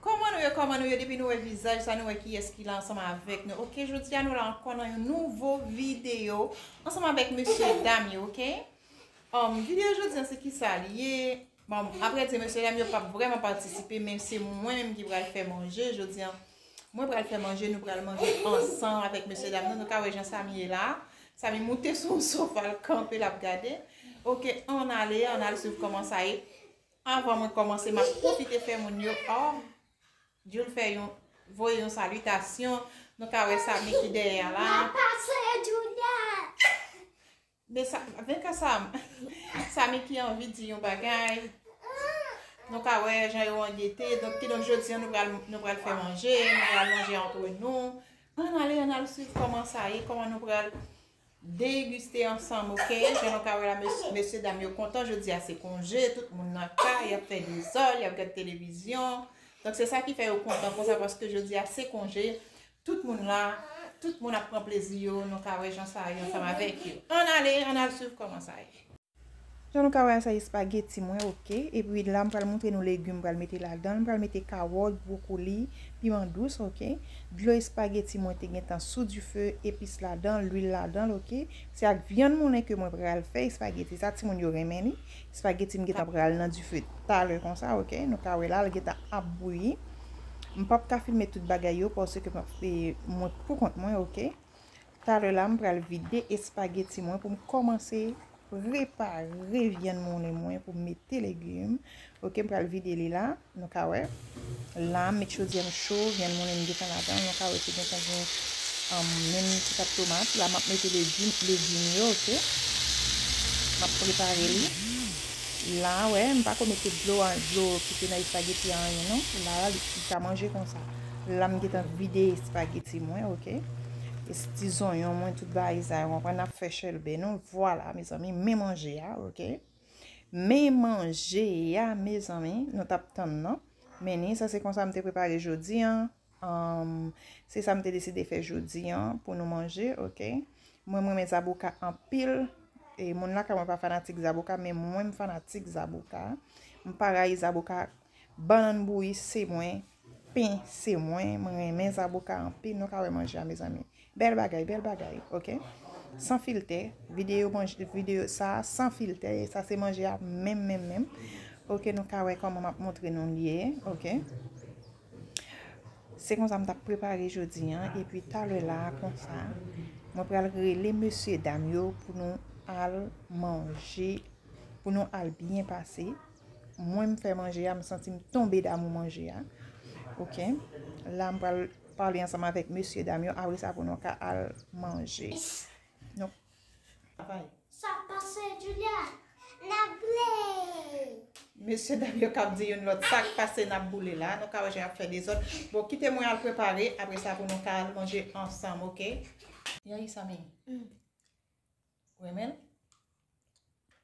Koman nou ye koman nou ye depi nou wè vizaj sa nou wè kiyès ki la ansanm avèk nou ok jodi a nou la ankò nan yon nouvo videyo ansanm avèk mesye dam yo ok videyo jodi a se kisa li ye Bon apre di mesye dam yo pap vreman patisipe men se mwen menm ki pral fè manje jodi an Mwen pral fè manje nou pral manje ansanm avèk mesye dam nan nou ka wè jan Samy ye la Samy moute sou yon sofa l kanpe lap gade Ok ann ale ann al swiv kòman sa ye Avan mwen kòmanse map pwofite fè moun yo oh Djoul fè yon voye yon salitasyon nou ka wè Samy ki dèyè a la Men sa men ka sa sa Mickey anvi di yon bagay nou ka wè jan yo an gete donk kidonk jodi an nou pral nou pral fè manje nou pral manje antre nou ann ale ann al swiv kòman sa ye kòman nou pral degiste ansanm ok jan nou ka wè la mes mesye dam yo kontan jodi a se konje tout moun nan kay y ap fè dezòd y ap gad televizyon donk se sa ki fè yo kontan konsa paske jodi a se konje Tout moun la, tout moun ap pran plezi yo, nou ka wè jan sa ye ansanm avèk yo. Ann ale, ann al swiv kòman sa ye. Jan nou ka wè a sa ye spaghetti mwen ok. Epi la m pral montre nou legume m pral mete ladan l. M pral mete kawòt, brokoli, piman dous ok. Dlo espageti mwen te gentan sou dife, epis ladan l, lwil ladan l ok. Se ak vyann moulen ke mwen pral fè espageti sa, timoun yo renmen li. Spaghetti m gentan pral nan dife talè konsa ok nou ka wè la li gentan ap bouyi m pap ka filme tout bagay yo paske map e mwen pou kont mwen ok talè la m pral vide espageti mwen pou m kòmanse prepare vyann moulen mwen pou mete legume ok m pral vide li la. Nou ka wè la m met chodyè m cho, vyann moulen m desann ladan l. Nou ka wè ki gentan gen menm ti pat tomat. La m ap mete legim yo ok. M ap prepare li. La wè m pa ko mete dlo an, dlo ki te nan espageti an anyen non. La li ka manje konsa. La m gentan vide espageti mwen ok. Ti zonyon mwen tout bagay sa yo. Mwen pa nan fè chèlbè non. Vwala mezanmi men manje a ok. Men manje ya mezanmi nou tap tann nan Menni sa se konsa m te prepare jodi an Se sa m te deside fè jodi an pou nou manje ok Mwen m renmen zaboka anpil E moun lakay mwen pa fanatik zaboka men mwen m fanatik zaboka M pa rayi zaboka Bannann bouyi se mwen Pen se mwen m renmen zaboka anpil nou ka wè manje a mezanmi bèl bagay bèl bagay ok san filtè video manje video sa san filtè e sa se manje a menm menm menm ok nou ka wè kòman map montre nou li ye ok se konsa m tap prepare jodi an e pi talè la konsa mwen pral rele mesye dam yo pou nou al manje pou nou al byen pase Mwen m fè manje a m santi m tonbe damou manje a ok la m pral pale ansanm avèk mesye dam yo apre sa pou nou ka al manje nou travay. Sa pase Julia nap boule. Mesye dam yo kap di youn lòt sak pase nap boule la nou ka wè jan yap fè dezòd bon kite mwen al prepare apre sa pou nou ka al manje ansanm ok. Yayisa mimi renmen l.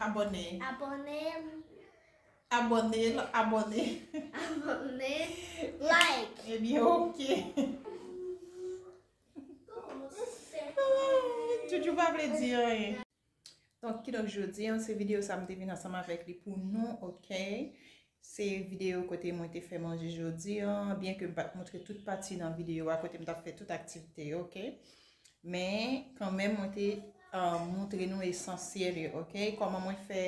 Abòne. Abòne. Abòne l abòne. Abòne. Like. Ebyen ok. Joujou pa vle di anyen. Donk kidonk jodi an se videyo sa m te vin ansanm avèk li pou nou ok. Se videyo kote mwen te fè manje jodi an, byen ke m pa t montre tout pati nan videyo a kote m t ap fè tout aktivite yo, ok. Men, kanmenm mwen te montre nou esansyèl yo, ok. Kòman mwen fè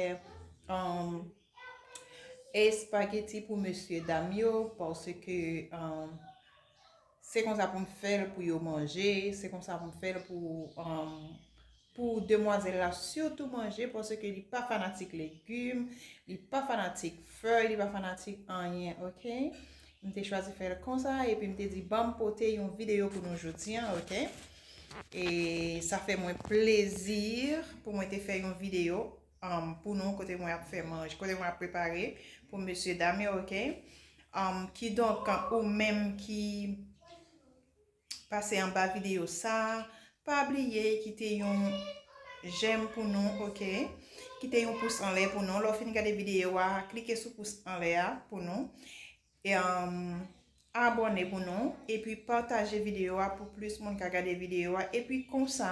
espageti pou mesye dam yo, paske... Se konsa pou m fè l pou yo manje, se konsa pou m fè l pou pou demwazèl la sitou manje paske li pa fanatik legim, li pa fanatik fèy, li pa fanatik anyen ok. M te chwazi fè l konsa epi m te di ban m pote yon videyo pou nou jodi an ok. E sa fè mwen plezi pou mwen te fè yon videyo. pou nou kote mwen ap fè manje kote mwen ap prepare pou mesye dam yo ok kidonk ou menm ki pase anba videyo sa pa bliye kite yon jèm pou nou ok kite yon pous anlè pou nou lè ou fin gade videyo a klike sou pous anlè a pou nou Abòne pou nou epi pataje videyo a pou plis moun ka gade videyo a epi konsa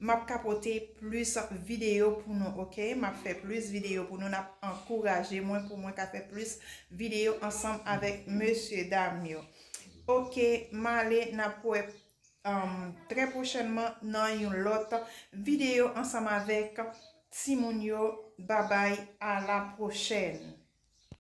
map ka pote plis videyo pou nou ok map fè plis videyo pou nou nap ankouraje mwen pou mwen ka fè plis videyo ansanm avèk mesye dam yo ok male nap wè trè pwochènman nan yon lòt videyo ansanm avèk timoun yo babay a la pwochèn.